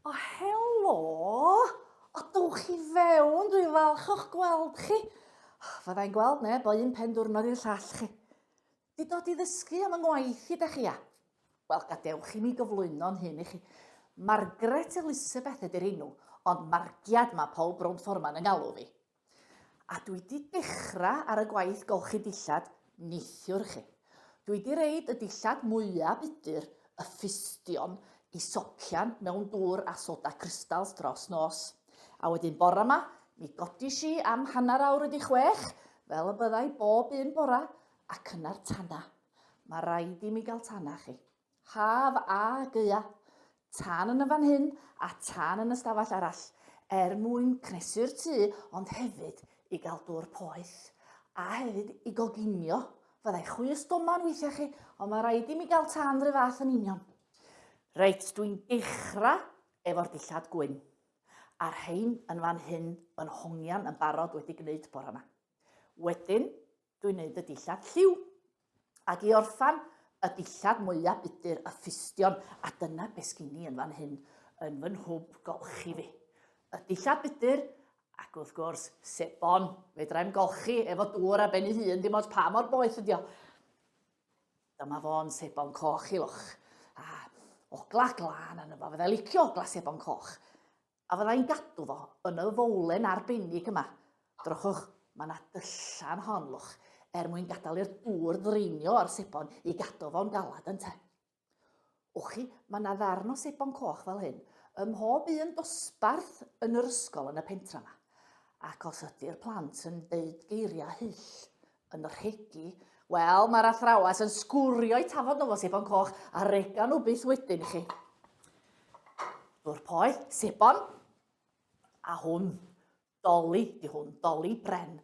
O, helo! O, dwch chi fewn, dwi'n falch o'ch gweld chi. Fyddai'n gweld neb o un pen diwrnod i'r llall chi. Di dod i ddysgu am yng ngwaith i da chi, a? Wel, gadewch i mi gyflwyno'n hyn i chi. Margaret Elizabeth ydy'r enw, ond margiad mae Paul Brown Foreman yn galw fi. A dwi 'di dechra ar y gwaith golchi dillad neithiwr chi. Dwi 'di reid y dillad mwya budur, y ffustion, i socian mewn dŵr a soda crystals dros nos. A wedyn bora 'ma, mi godish i am hanner awr wedi chwech, fel y byddai bob un bora, ac yna'r tana. Ma raid i mi gael tana chi. Haf a gaeaf, tân yn y fan hyn a tân yn y stafell arall, er mwyn cnesu'r tŷ ond hefyd i gael dŵr poeth. A hefyd i goginio, fyddai chwys doman weithiau chi, ond mae rhaid i mi gael tân rhyw fath yn union. Reit, dwi'n dechrau efo'r dillad gwyn. A rhain yn fan hyn yn hongian yn barod wedi gwneud bore yma. Wedyn, Dwi'n neud y dillad lliw. Ac i orffan, y dillad mwya budur y ffustion, a dyna be sgin i yn fan hyn, yn fy nhwb golchi fi. Y dillad budur, ac wrth gwrs, sebon, fedrai'm golchi efo dŵr a ben ei hun, dim ond pa mor boeth ydi o. Dyma fo'n sebon coch i loch. A ogla glân yn yma, fydda licio ogla sebon coch. A fydda i'n gadw fo yn y fowlen arbennig yma. Drychwch, mae yna dyllan hon, lwch, er mwyn gadael i'r dŵr ddraenio o'r sebon i gadw fo'n galad, ynte? Wch chi, mae yna ddarn o sebon coch fel hyn ym mhob un dosbarth yn yr ysgol yn y pentra yma. Ac os ydy'r plant yn deud geiriau hyll, yn rhegi, wel, mae'r athrawes yn sgwrio'i tafod nhw fo sebon coch a rega nhw byth wedyn i chi. Dwr poi, sebon, a hwn, doli, di hwn, doli bren,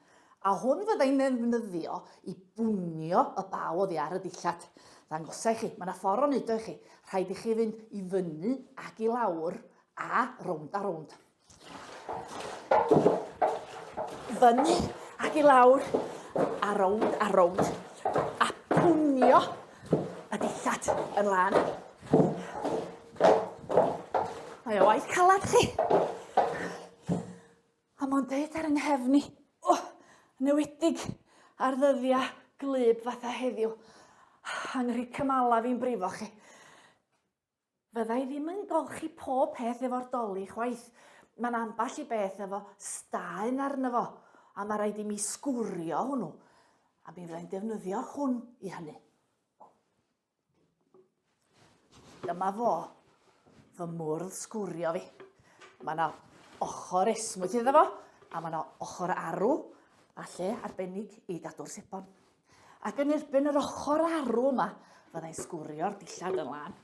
a hwn fyddai'n ddefnyddio i bwnio y baw oddi ar y dillad. Ddangosau chi, mae yna ffordd o'n neud o i chi. Rhaid i chi fynd i fyny ac i lawr a rownd a rownd. Fyny ac i lawr, a rownd a rownd, a pwnio y dillad yn lan. Mae o waith calad chi. A mae'n deud ar yng nghefn i, oh, newedig ar ddyddiau glyb fatha heddiw. Angri cymala fi'n brifo chi. Fydda i ddim yn golchi pob peth efo'r doli chwaith. Mae'n ambell i beth efo staen arno fo, a mae rhaid i mi sgwrio hwnnw, a mi fyddai'n defnyddio hwn i hynny. Dyma fo, fy mwrdd sgwrio fi. Mae yna ochr esmwyth iddo fo, a mae yna ochr arw, a lle arbennig i gadw'r sebon. Ac yn erbyn yr ochr arw yma, fyddai'n sgwrio'r dillad yn lan.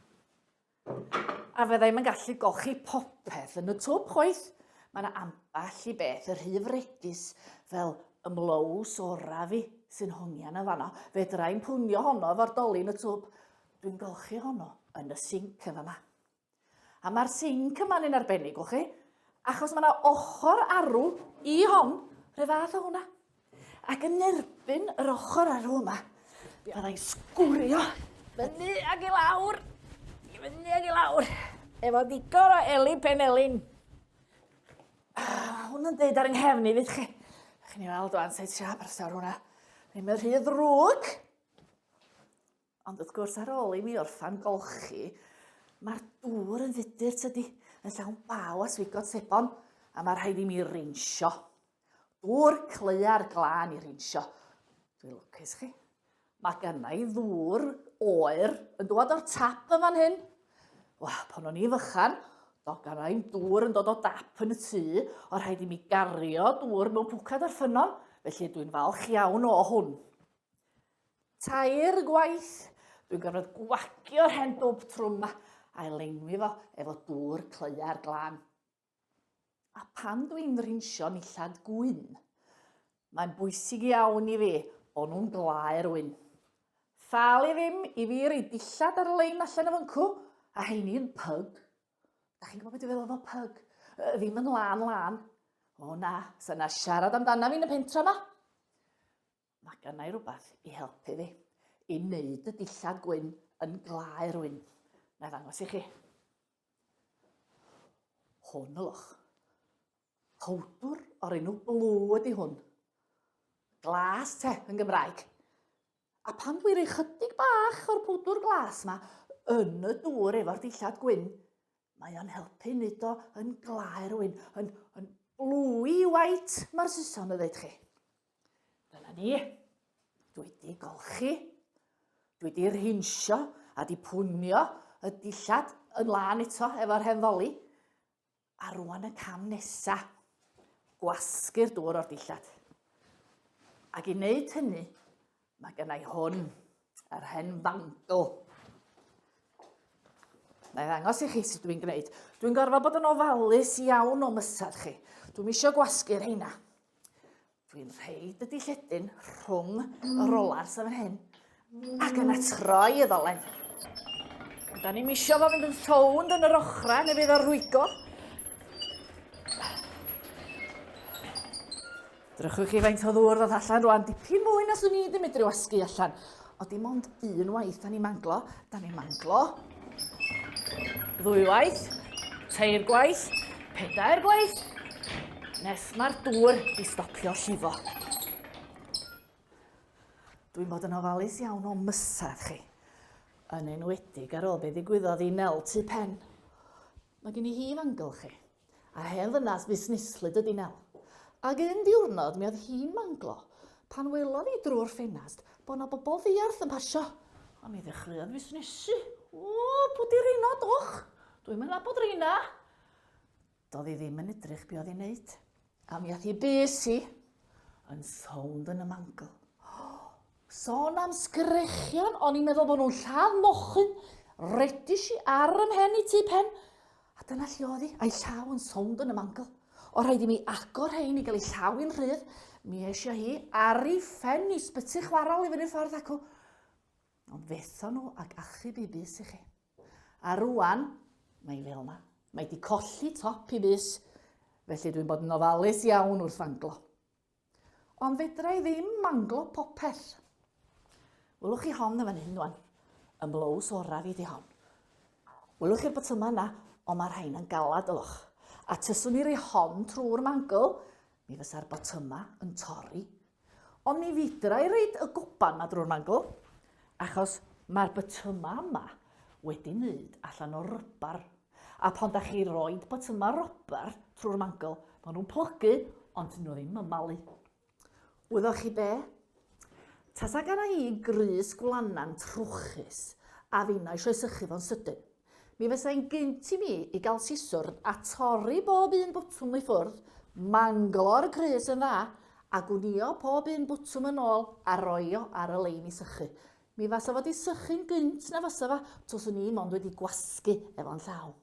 A fyddai'n gallu golchi popeth yn y twb chwaith. Mae yna ambell i beth yr rhy fregis fel ymlows ora fi sy'n hongian yn fanno. Fedrai'n pwnio honno efo'r dolin y twb. Dwi'n golchi honno yn y sinc yn fama. A mae'r sinc yma'n un arbennig, gwch chi? Achos mae yna ochr arw i hon, rhyw fath o hwnna. Ac yn erbyn yr ochr arw yma, byddai'n sgwrio fyny ag i lawr, i fyny ag i lawr, efo ddigon o eli penelin. Ah, hwn yn dweud ar yng nghefn i, fydd chi? Chi'n ei weld o'n sa'i trio aberthawr hwnna. Ddim yn rhy ddrwg. Ond wrth gwrs, ar ôl i mi orffan golchi, mae'r dŵr yn fudur, tydi, yn llawn baw a swigod sebon, a mae rhaid i mi rinsio. Dŵr cleia'r glân i rinsio. Dwi'n lwcus chi. Mae gynna i ddŵr oer yn dod o'r tap yn fan hyn. Wa, pan o'n i fychan, do gynna i'n dŵr yn dod o dap yn y tŷ, o rhaid i mi gario dŵr mewn pwcad ar ffynnon, felly dwi'n falch iawn o hwn. Tair gwaith, dwi'n gorfod gwagio'r hen dwb trwm 'ma a'i lenwi fo efo dŵr cleua'r glân. A pan dw i'n rinsio nillad gwyn, mae'n bwysig iawn i fi bod nhw'n glau'r wyn. Thal i ddim i fi roi dillad ar lein allan o fyncw, a heini yn pyg. Da chi'n gwybod beth dwi'n feddwl efo pyg? Ddim yn lân lân. O na, sa na siarad amdana fi yn y pentra 'ma. Mae gennau rhywbeth i helpu fi i wneud y dillad gwyn yn glaer wyn. Na i ddangos i chi. Hwn o loch. Powdwr o'r enw blw ydy hwn. Glas te yn Gymraeg. A pan dwi'n rhoi chydig bach o'r pwdwr glas yma yn y dŵr efo'r dillad gwyn, mae o'n helpu wneud o yn glaer wyn, yn, yn blwy white, mae'r Saeson yn dweud chi. Fel a ni. Dwi wedi golchi. Dwi wedi rhinsio a di pwnio y dillad yn lân eto efo'r hen ddoli. A rwan y cam nesa. Gwasgu'r dŵr o'r dillad. Ac i wneud hynny, Mae gen i hwn, yr hen fangl. Na i ddangos i chi sut dwi'n gwneud. Dwi'n gorfod bod yn ofalus iawn o mysad chi. Dwi'n eisiau gwasgu rheina. Dwi'n rhaid y dilledyn rhwng y rolar sef yn hyn ac yna troi y ddolen. Da ni'n misio fo fynd yn llownd yn yr ochrau neu fydd o'r rhwygo. Drychwch chi faint o ddŵr ddoth allan rwan, dipyn mwy na swn i ddim medru wasgu allan. O dim ond un waith da ni'n manglo, da ni'n manglo. Ddwy waith, teir gwaith, pedair gwaith, nes mae'r dŵr i stopio llifo. Dwi'n bod yn ofalus iawn o mysedd chi, yn enwedig ar ôl be ddigwyddodd i Nel tu pen. Mae gen i hi fangl chi. A hen ddynas fusneslyd ydi Nel. Ag un diwrnod mi oedd hi'n manglo pan welodd hi drwy'r ffenast bod 'na bobl ddiarth yn pasio. A mi ddechreuodd fusnesu. O, pw di reina, dwch! Dwi'm yn nabod reina! Do'dd hi ddim yn edrych be oedd hi'n neud. A mi ath i bys i, yn sownd yn y mangl. Sôn am sgrechian, o'n i'n meddwl bod nhw'n lladd mochyn, redis i ar ym mhen i tu pen, a dyna lle oedd hi, a'i llaw yn sownd yn y mangl. O rhaid i mi agor rhain i gael ei llaw i'n rhydd, mi eisiau hi ar ei ffen i sbyty chwarael i fyny ffordd acw. Ond fetho nhw ag achub i bys i chi. A rŵan, mae hi fel yma. Mae hi wedi colli top i fus, felly dwi'n bod yn ofalus iawn wrth fanglo. Ond fedra i ddim manglo popeth. Wylwch chi hon yn fan hyn rwan. Y mlows oraf i di hon. Wylwch chi'r botymau yna, ond mae rhain yn galad ylwch. A tyswn i rei hon trwy'r mangl, mi fysa'r botymau yn torri Ond ni fedra i roid y goban 'ma drwy'r mangl, achos mae'r bytyma' yma wedi wneud allan o rybar, a phan da chi roid bytyma' rybar trwy'r mangl, maen nhw'n plygu, ond dyn nhw ddim yn malu. Wyddoch chi be? Tasa gana i grys gwlana'n trwchus, a finna eisiau sychu fo'n sydyn. Mi fysai'n gynt i mi i gael siswrn a torri bob un bwtwm i ffwrdd, manglo ar y crys yn dda, a gwnïo pob un bwtwm yn ôl a roi o ar y lein i sychu. Mi fasa fo 'di sychu'n gynt na fysa fa, twswn i mond wedi gwasgu efo'n llaw.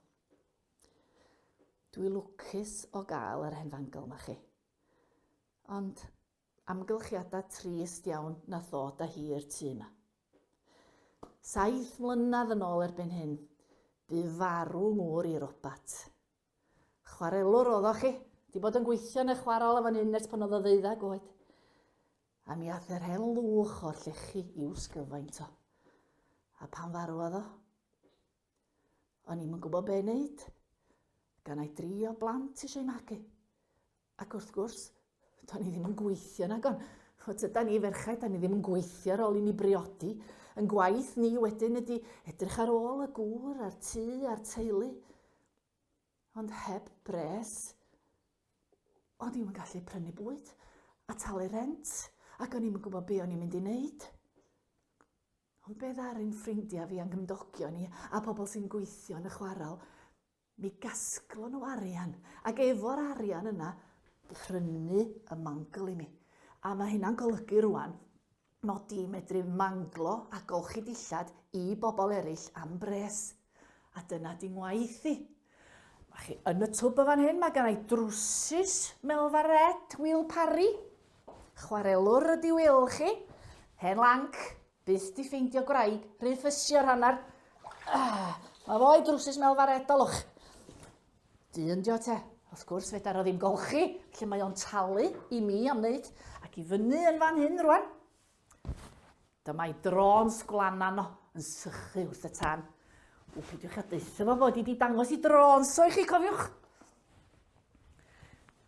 Dwi lwcus o gael yr hen fangl 'ma chi. Ond Amgylchiada trist iawn nath ddod a hi i'r tŷ 'ma. Saith mlynedd yn ôl erbyn hyn, bu farw ngŵr i robat. Chwarelwr oeddoch chi, di bod yn gweithio yn y chwarel yn fan hyn ers pan oedd o ddeuddag oed. A mi ath yr hen lwch o'r llechi i'w sgyfaint o. A pan farwodd o, o'n i'm yn gwybod be' neud. Gan ai dri o blant eisiau magu. Ac wrth gwrs, do'n i ddim yn gweithio nag on. O, tyda ni ferchaid, da ni ddim yn gweithio ar ôl i ni briodi. Yn gwaith ni wedyn ydy edrych ar ôl y gŵr a'r tŷ a'r teulu. Ond heb bres, o'n i'n gallu prynu bwyd a talu rent ac o'n i'n gwybod be o'n i'n mynd i wneud. Ond be ddaru'n ffrindiau fi a'n gymdogion ni a pobl sy'n gweithio yn y chwarael, Mi gasglon nhw arian, ac efo'r arian yna, prynu y mangl i mi. A mae hynna'n golygu rwan mod i'n medru manglo a golchi dillad i bobl eraill am bres. A dyna di ngwaith i. Mae chi yn y twb y fan hyn, mae gan ei drwsus Melfa Red, Wil Parry. Chwarelwr ydi Wil chi. Hen lanc, Byth di ffeindio gwraig rhy ffysio rhan ar... Ah, mae fo'i drwsus melfa'r edolwch. Dyn dio te. Wrth gwrs, fedar o ddim golchi, lle mae o'n talu i mi am wneud, ac i fyny yn fan hyn rwan. Dyma'i drôn sgwlana no yn sychu wrth y tân. O, peidiwch a deutha fo fod i di dangos i drôn so i chi, cofiwch.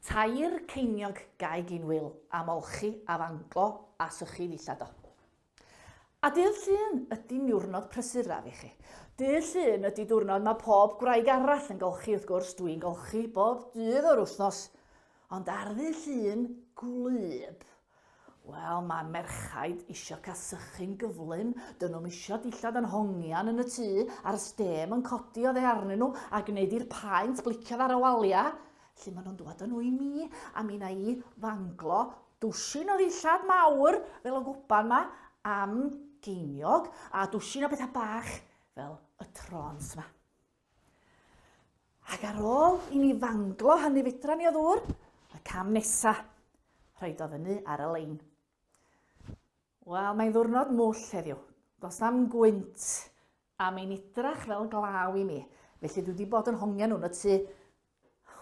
Tair ceiniog ga'i gyn wil am olchi a fanglo a sychu ddillad do. A dydd Llun ydi niwrnod prysuraf i chi. Dydd Llun ydi diwrnod mae pob gwraig arall yn golchi wrth gwrs, dwi'n golchi bob dydd o'r wythnos. Ond ar ddydd Llun gwlyb, Wel, mae merchaid isio cael sychu'n gyflym, dyn nhw'm isio dillad yn hongian yn y tŷ, a'r stêm yn codi oddi arnyn nhw a gwneud i'r paent bliciodd ar y waliau. Lle maen nhw'n dŵad yn nhw i mi, a mi na i fanglo dwsin o ddillad mawr fel y gwpan ma am geiniog, a dwsin o bethau bach fel y trons ma. Ac ar ôl i ni fanglo hynny fedra ni o ddŵr, y cam nesa, rhaid o fyny ar y lein. Wel, mae'n ddwrnod mwll heddiw. Does na'm gwynt a mae'n idrach fel glaw i mi. Felly dwi wedi bod yn hongian nhw'n y tu.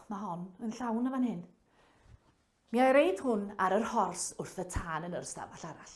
Mae hon yn llawn y fan hyn. Mi a'i reid hwn ar yr hors wrth y tân yn yr ystafell arall.